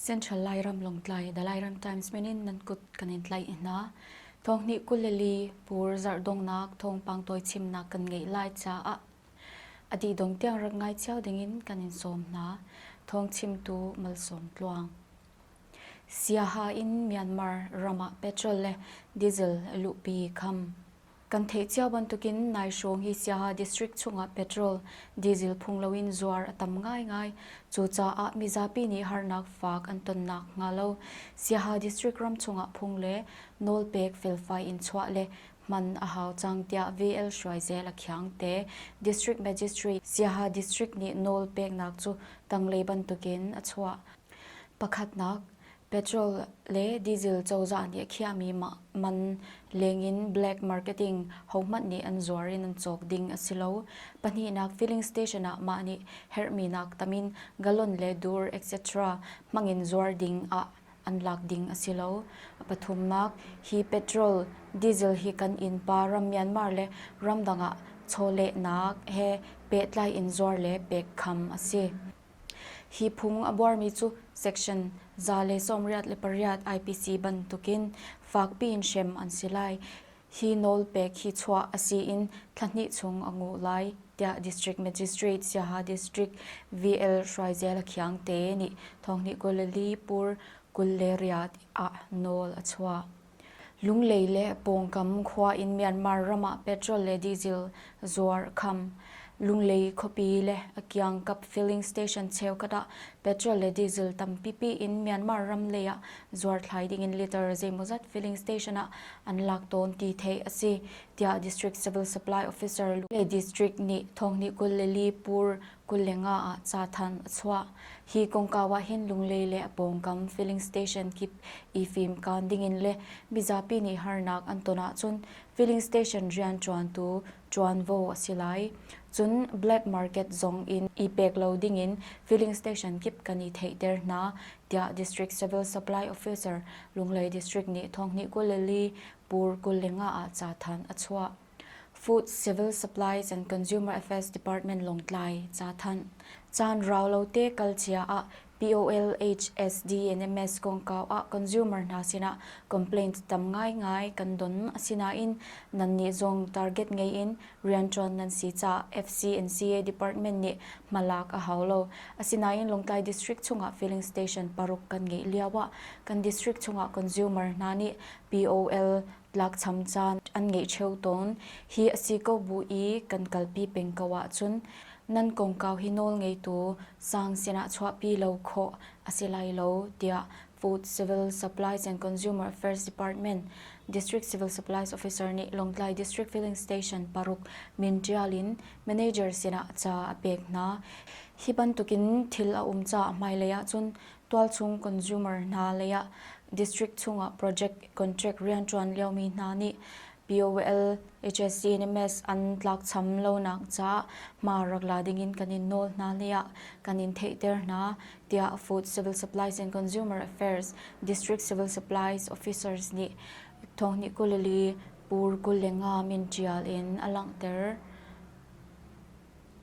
Central Lairam Longtlai The Lairam Times menin nan kut kan in tlai hna. Thong ni kuleli pur zardongnak thong pangtoi chimnak kan ngei lai caah adi dong tiang rat ngai chiao dingin kan in sawm hna. Thong chimtu malsawm tluang. Siaha in Myanmar ram ah petrol le diesel luhpi kham kan theih cio bantukin nai hrawng hi Siaha district chungah petrol, diesel phung loin zuar a tam ngaingai. Cucaah mizapi nih harnak fak an tonnak hnga lo Siaha district ram chungah phung le nawlpek felfai in chuah le hman a hau cang tiah VL Hruaizel a khiang te. District Magistrate Siaha district nih nawl peknak cu tanglei bantukin a chuah. Pakhatnak, petrol le diesel cozah nih a khiahmi man lengin black marketing hohmanh nih an zuar in an cawk ding a si lo. Pahnihnak, filling station ah mah nih herhminak tamin galon le dur etc. hmangin zuar ding ah an lak ding a si lo. Pathumnak, hi petrol, diesel hi kan innpa ram Myanmar le ramdang ah chawlehnak he pehtlai in zuar le pek kham a si. Hi phung a buarmi cu section za le sawmriat le pariat IPC bantukin fakpi in hrem an si lai. Hi nawl pek hi chuah a si in thla hnih chung a nguh lai, tiah District Magistrate Siaha District VL Hruaizel Akhiang te nih Thawngnih kul le li pur kul le riat ah nawl a chuah. Lunglei le pawngkam khua in Myanmar ram ah petrol le diesel zuar a kham. Lunglei khuapi le a kiangkap filling station cheukhat ah petrol le diesel tampipi in Myanmar ram lei ah zuarthlai ding in liter zeimawzat filling station ah an lak tawn ti theih a si, tiah District Civil Supply Officer Lunglei District nih Thawngnih kul le li pur Kullenga ah cathanh a chuah. Hi kongkau ah hin Lunglei le a pawngkam filling station kip i fimkaan dingin le mizapi nih harnak an ton ahcun filling station rianṭuantu ṭuanvo a si lai. Cun black market zong in i pek lo dingin filling station kip kan i theihter hna, tiah District Civil Supply Officer Lunglei District nih thonghnih kul le li Pur Kullenga ah cathanh a chuah. Food, Civil Supplies and Consumer Affairs Department Lawngtlai, ca thanh. Caan rau lo te kal cia ah POL HSD NMS kongkau ah consumer hna sinah complaint tam ngaingai kan don. Asinain, nan nih zong target ngei in rianṭuan nan si caah FCNCA Department nih hmalak a hau lo. Asinain, Lawngtlai District chungah filling station paruk kan ngeih lioah kan district chungah consumer hna nih POL tlakcham caan an ngei cheu tawn. Hi a si ko bu i kan kalpi peng ko ahcun nan kongkau hi nawl ngeitu sang sinah chuahpi lo khawh a si lai lo, tiah Food Civil Supplies and Consumer Affairs Department District Civil Supplies Officer nih Lawngtlai District Filling Station paruk min ṭial in manager sinah ca a pek hna. Hi bantukin thil a um caah hmailei ahcun tualchung consumer hna leiah district chungah project contract rianṭuan liomi hna nih POL, HSC nih MES an tlakcham lonak caah hma rak la dingin kan in nawl hna leiah kan in theihter hna, tiah Food Civil Supplies and Consumer Affairs District Civil Supplies Officers nih Thawngni kul li Pur kul le nga min ṭial in a langhter.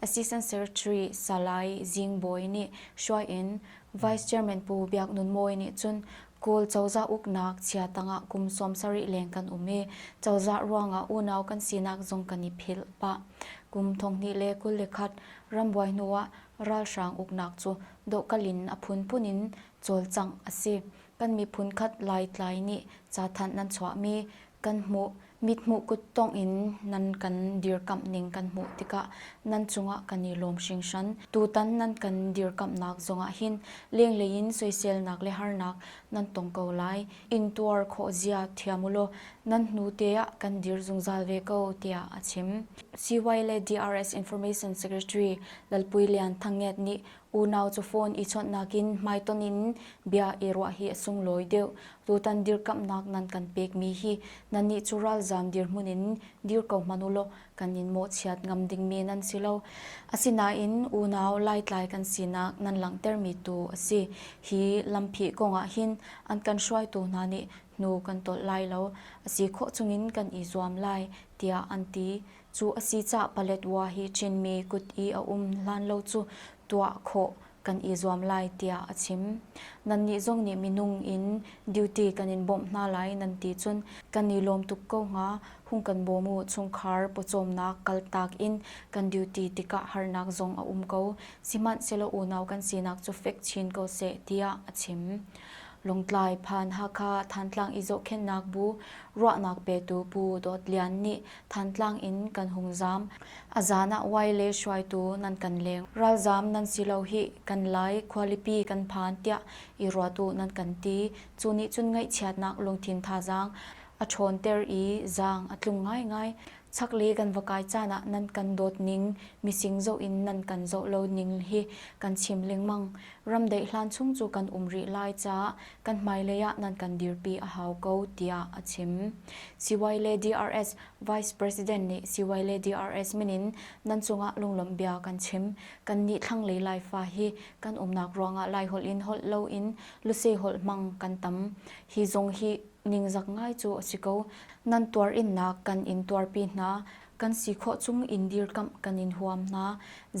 Assistant Secretary Salai Zing Bawi nih hruai in Vice Chairman Pu Biak Nun Mawi nih cun Kawl cozah uknak chia tangah kum sawm sarih leng kan um i cozah ruangah unau kan sinak zong kan i philh pah. Kum thonghnih le kul le khat rambuai hnuah ralhrang uknak cu dohkalh in a phunphun in cawlcangh a si. Kan miphun khat Laitlai nih cathanh nan chuahmi kan hmuh. Mithmuh kuttongh in nan kan dirkamh ning kan hmuh tikah nan cungah kan i lawm hringhran. Tutan nan kan dirkamhnak zongah hin lenglei in soiselnak le harnak nan tong ko lai. Intuar khawh zia thiam u law nan hnute ah kan dir zungzal ve ko tiah a chim. CY le DRS Information Secretary Lalpui Lian Thang Nget nih Unau cu phone i chawnhnak in hmaitonh in bia i ruah hi a sunglawi deuh. Tutan dirkamhnak nan kan pekmi hi nannih cu ralzam dirhmun in dir ko hmanh u law kan in mawhchiat ngam ding men an si lo. Asinain unau laitlai kan sinak nan langhtermi tu a si. Hi lampi kong ah hin an kan hruaitu hna nih hnu kan tolh lai lo, a si khawh chungin kan i zuam lai, tiah an ti. Cu a si caah Paletwa hi Chinmi kut i a um hlan lo cu tuah khawh kan i zuam lai tiah a chim. Nannih zong nih minung in duty kan in bawmh hna lai nan ti cun kan i lawm tuk ko hnga. Hung kan bawm u, chungkhar pawcawmnak kaltak in kan duty tikah harnak zong a um ko. Sihmanhsehlaw unau kan sinak cu fek chin ko seh tiah a chim. Lawngtlai phan Hakha Thantlang i zohkhenhnak bu ruahnak petu Pu Dawt Lian nih Thantlang in kan hung zaam. A zan ah Wai le hruaitu nan kan leng. Ralzaam nan si lo hih. Kan lai khualipi kan phan tiah i ruat u nan kan ti. Cu nih cun ngaihchiatnak lungthin thazaang a ṭhawnter i zaang a tlung ngaingai. Chaklei kan va kai caan ah nan kan dawt ning, mising zoh in nan kan zoh lo ning hi kan chim lengmang. Ramdeih hlan chung cu kan um rih lai caah kan hmailei ah nan kan dirpi a hau ko tiah a chim. Siwai le DRS Vice President nih siwai le DRS min in nan cungah lunglawmh bia kan chim. Kannih thlanglei Laifa hi kan umnak ruangah Laiholh in holh loin lusei holh hmang kan tam. Hi zong hi ningzak ngai cu a si ko. Nan tuarinnak kan in tuarpi hna. Kan si khawh chung in dirkamh kan in huam hna.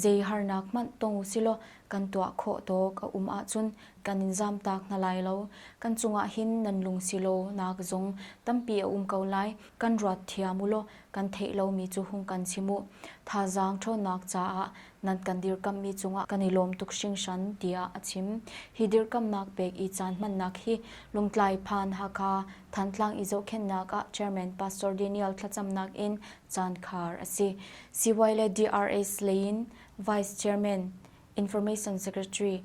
Zei harnak hmanh tong usilaw kan tuah khawh tawk a um ahcun kan in zamtak hna lai lo. Kan cungah hin nan lung si law nak zong tampi a um ko lai. Kan ruat thiam u law kan theih lomi cu hung kan chim u. Thazaang ṭhawnnak caah nan kan dirkamhmi cungah kan i lawm tuk hringhran, tiah a chim. Hi dirkamhnak pek i caan hmannak hi Lungtlai Phan Hakha Thantlang i zohkhenhnak ah Chairman Pastor Daniel thlacamnak in caan khar a si. CY le DRS lei in Vice Chairman, Information Secretary,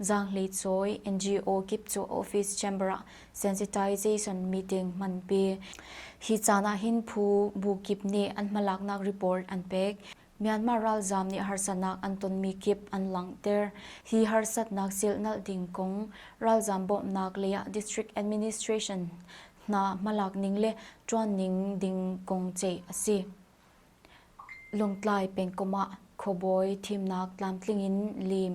Zaanghlei cawi NGO kip cu office chamber ah sensitization meeting hmanpi. Hi caan ahhin phu bu kip nih an hmalaknak report an pek. Myanmar ralzam nih harsanak an tonmi kip an langhter. Hi harsatnak silhnalh ding kong ralzam bawmhnak lei ah district administration hna hmalak ning le ṭuan ning ding kong ceih a si. Lawngtlai pengkomh ah khuabawi thimnak tlamtling in lim.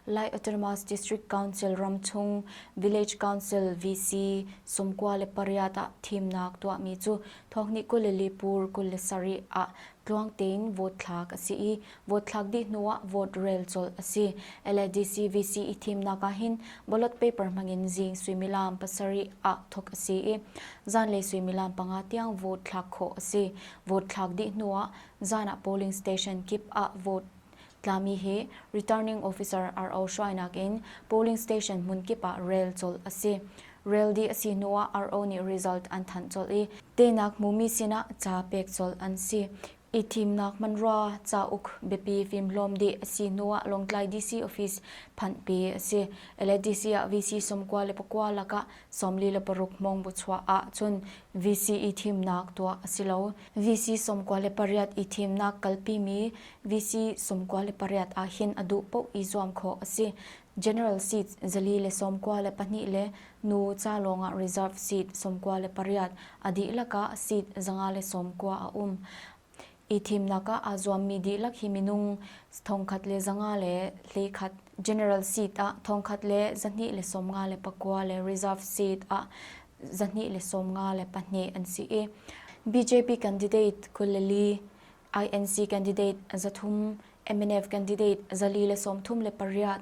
Lai Autonomous District Council ramchung Village Council VC sawmkua le pariat ah thimnak tuahmi cu thawkni kul le lipur kul le sarih ah tluang tein vote thlak a si i vote thlak dih hnu ah vote rel colh a si. LADC VC i thimnak ah hin ballot paper hmangin zing suimilam pasarih ah thawk a si i zanlei suimilam panga tiang vote thlak khawh a si. vote thlak dih hnu ah zan ah polling station kip ah vote tlami hi returning officer RO hruainak in polling station hmun kip ah rel colh a si. Rel dih a si hnu ah RO nih result an thanh colh i teinak hmumi sinah ca pek colh an si. I thimnak manrua cauk biapi fimhlawm dih a si hnu ah Lawngtlai DC office phanh pi a si. LADC ah VC somkua le pakua lakah Sawmli le paruk mong bu chuah ah cun VC i thimnak tuah a si lo. VC sawmkua le pariat i thimnak kalpimi VC sawmkua le pariat ahhin a duh paoh i zuam khawh a si. General seat zali le sawmkua le pahnih le nu ca lawngah reserve seat sawmkua le pariat a dihlak ah seat zanga le sawmkua a um. i thimnak ah aa zuammi dihlak hi minung thongkhat le zanga le hleikhat general seat ah thongkhat le zahnih le sawmnga le pakua le reserve seat ah zahnih le sawmnga le pahnih an si i BJP candidate kuleli INC candidate zathum MNF candidate zali le sawmthum le pariat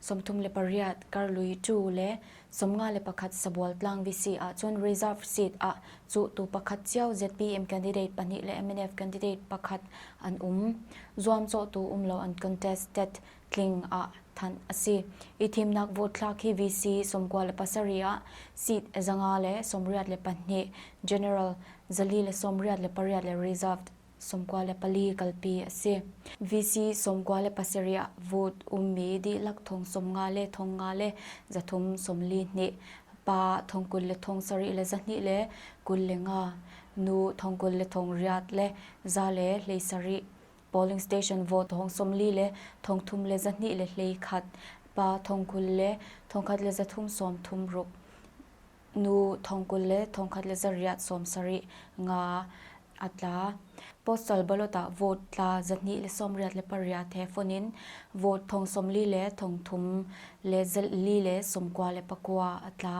Sawmthum le pariat Karlui cu le sawmnga le pakhat Sabual tlang VC ahcun reserve seat ah cuhtu pakhat cio ZPM candidate pahnih le MNF candidate pakhat an um. Zuamcawhtu um lo an contested tling ah thanh a si. I thimnak vote thlak hi VC sawmkua le pasarih ah seat zanga le sawmriat le pahnih general zali le sawmriat le pariat le reserved sawmkua le pali kalpi a si. VC sawmkua le pasarih ah vote ummi dihlak thong sawmnga le thongnga le zathum sawmli hnih, pa thong kul le thong sarih le zahnih le kul le nga, nu thong kul le thong riat le za le hlei sarih, polling station vote thong sawmli le thong thum le zahnih le hlei khat, pa thong kul le thong khat le zathum sawm thum ruk. Nu thong kul le thongkhat le zarih ah sawm sarih nga a tla. Postal ballot ah vote tla zahnih le sawmriat le pariat he fon in vote thong sawmli le thong thum le zali le sawmkua le pakua a tla.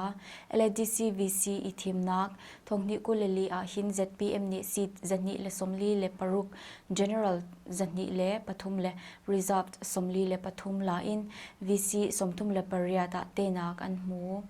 LADC VC i thimnak thonghnih kul le li ah hin ZPM nih seat zahnih le sawmli le paruk general zahnih le pathum le reserved sawmli le pathum la in VC sawmthum le pariat ah tenak an hmu.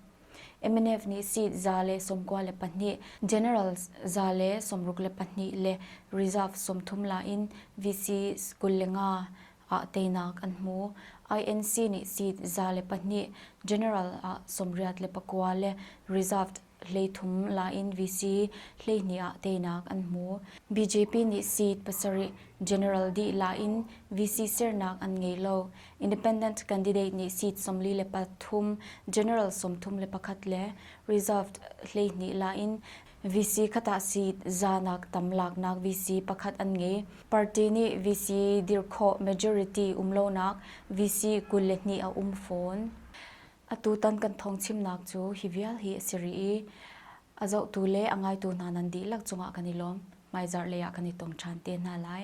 MNF nih seat za le sawmkua le pahnih, general za le sawmruk le pahnih le reserve sawmthum la in VC kul le nga ah teinak an hmu. INC nih seat za le pahnih, general ah sawmriat le pakua le reserved hleithum la in VC hleihnih ah teinak an hmu. BJP nih seat pasarih, general dih la in VC sernak an ngei lo. Independent candidate nih seat sawmli le pathum, general sawmthum le pakhat le reserved hleihnih la in VC khat ah seat zanak tam laknak VC pakhat an ngei. Party nih VC dir khawh majority um lonak VC kul le hnih a um fawn. Atutan kan thawngchimnak cu hi vial hi a si rih i a zohtu le a ngaitu hna nan dihlak cungah kan i lawm. Hmaizarh lei ah kan i tong ṭhan te hna lai.